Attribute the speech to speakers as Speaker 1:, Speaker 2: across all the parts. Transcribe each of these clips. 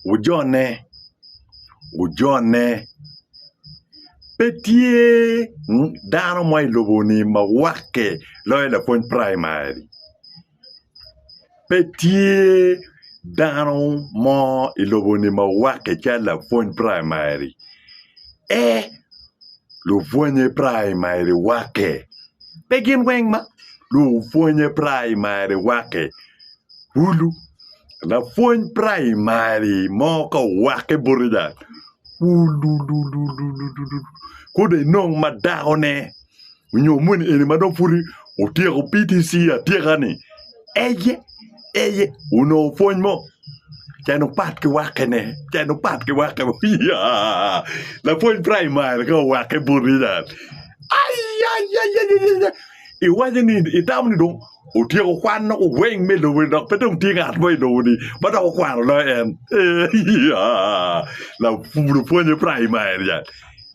Speaker 1: Wujone, wujone. Pe tye dano mo i lobo-ni ma wakke loyo lapwony praimari. Pe tye dano mo i lobo-ni ma wakke calo lapwony praimari. Ee, lupwonye praimari wakke. Pe gin weng ma lupwonye praimari wakke. Kulu, lapwony praimari mo ka owake boti dok wulululululu ko dong inong ma dakone nyo moni eni ma dong pud otyeko PTC atyeka-ni eye eye onongo pwony mo cen opat ki wakene cen opat ki wake iya lapwony praimari ka owake boti dok ayayayaya iwaco ni itamo ni dong otyeko kwano weng me lobo-ni dok pe dong tye ngat mo i lobo-ni ma dok okwano loyo en. Lupwonye praimari jal.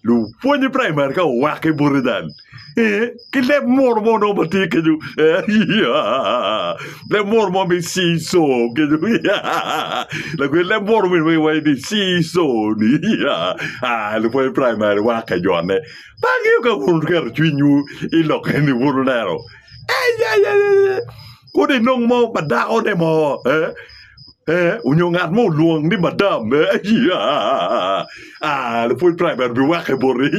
Speaker 1: Lupwonye praimari ka owake bote jal. Ki leb munu mo nongo ma tye kenyo. Leb munu mo me ciso kenyo. Lakwed leb munu mo ma iwaco ni ciso-ni. Lupwonye praimari wake jone. Pe angeyo ka wun wuketo cwinywu i lokke-ni wun wuneno. Kadi inong mo pa dakone mo onyo ngat mo olwong ni madam lapwony praimairi biwake boti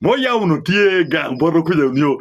Speaker 1: moya onongo tye gang bwoto kwica nio.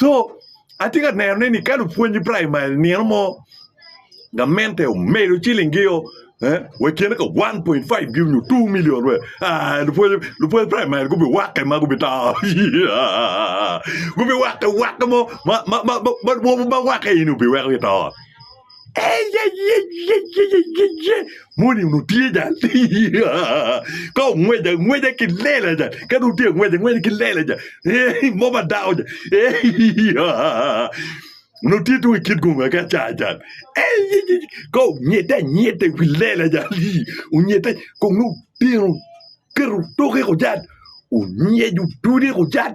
Speaker 1: Co atye ka neno ni ka lupwony i praimari nino mo gamente omedo ciling gi o wa kine ka one point five gi nyo two million wek aa lupwony praimari gubi wake ma gubi to gubi wake wake mo ma ma ma ma wake eni obi weko gito. Moni onongo tye jal ka ongweco angweca ki lela jal ka dong tye angweco angweca ki lela jal mo pa dako jal onongo tye tung i kit gonga ki acar jal ka onyede anyeda i wi lela jal onyede kong nongo tyen oketo toke jal onyec odode jal.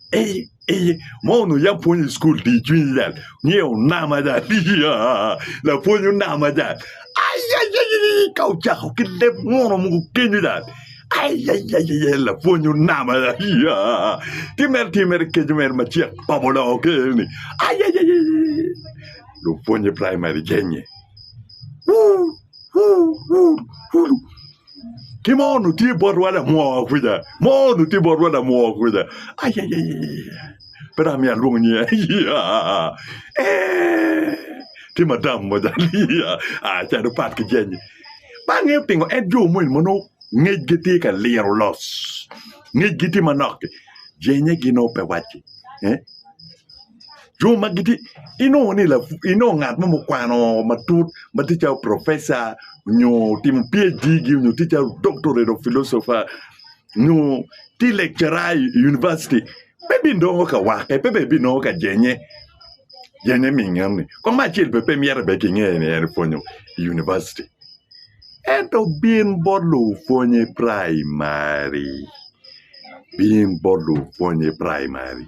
Speaker 1: ma onongo yam pwonyo i cukul dye cwiny ca nge onama ca lapwony onama ca aii ka ocako ki leb munu mogo kenyo ca aii lapwony onama ca ki mere tye mere keco mere ma cek pa bulongo ker ni aii lupwonye praimari gennye. Ki mo onongo tye botwa lamwowa kwica. Mo onongo tye botwa lamwowa kwica. Ayayayaya. Pe dong amyero alwong nyinge. Aya. Eh. Tye madam mo jalo. Aya. Ah, ca dong pat ki jeny. Ba angeyo pingo en jo moni ma nongo ngecgi tye ka liro los. Ngecgi tye manok-ki. Jenye gin nongo pe wacci. Eh? Jo ma gitye inongo ni inongo ngat mo mukwano matut ma tye calo profeca nyo otimo PHD gi nyo tye calo doctorate of philosopher nyo tye lecturer i university pe binongo ka wake pe bene binongo ka jenye jenye minge enoni kong me acel bene pe myero bene kinge ni en pwonyo i university ento bin bot lupwony i primary bin bot lupwony i primary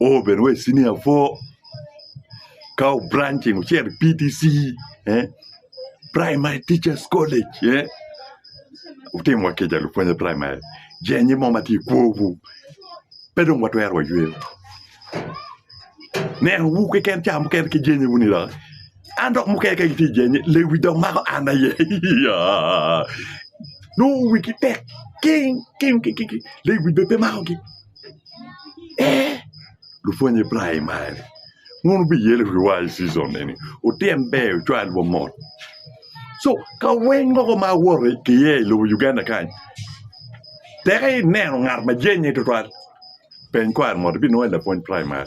Speaker 1: oo bene wa i senior four ka obranching ocito i PTC Primary Teachers College otimo wa kica lupwony primary jenge mo ma tye i kwowu pe dong watwero wayweyo nenowu keken ca mukene ki jenge wuni dok an dok mukene ka gitye i jenge lewi dok mako an aye yaa nongo wigi tek king king lewi bene pe makogi. Lupwonye praimar wun wubiye lok ki war cicon eni wutyen ber wucwal wa mot cu kaweng mogo ma awoto iye i lobo Uganda kany tek ineno ngat ma jenge tutwal peny kwaro mot ibinongo en lapwony praimar.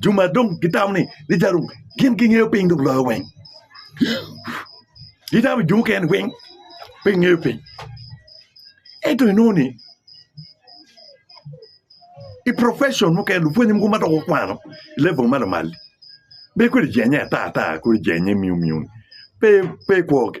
Speaker 1: jo ma dong gitamo ni rica rum gin gingeyo piny dok loyo weng gitamo jo mukene weng pe gingeyo piny ento inongo ni i profetion mukene lupwonye mogo ma dok okwano i level ma lamal bed kodi jenge ata ata kodi jenge miu miu pe pe kwogi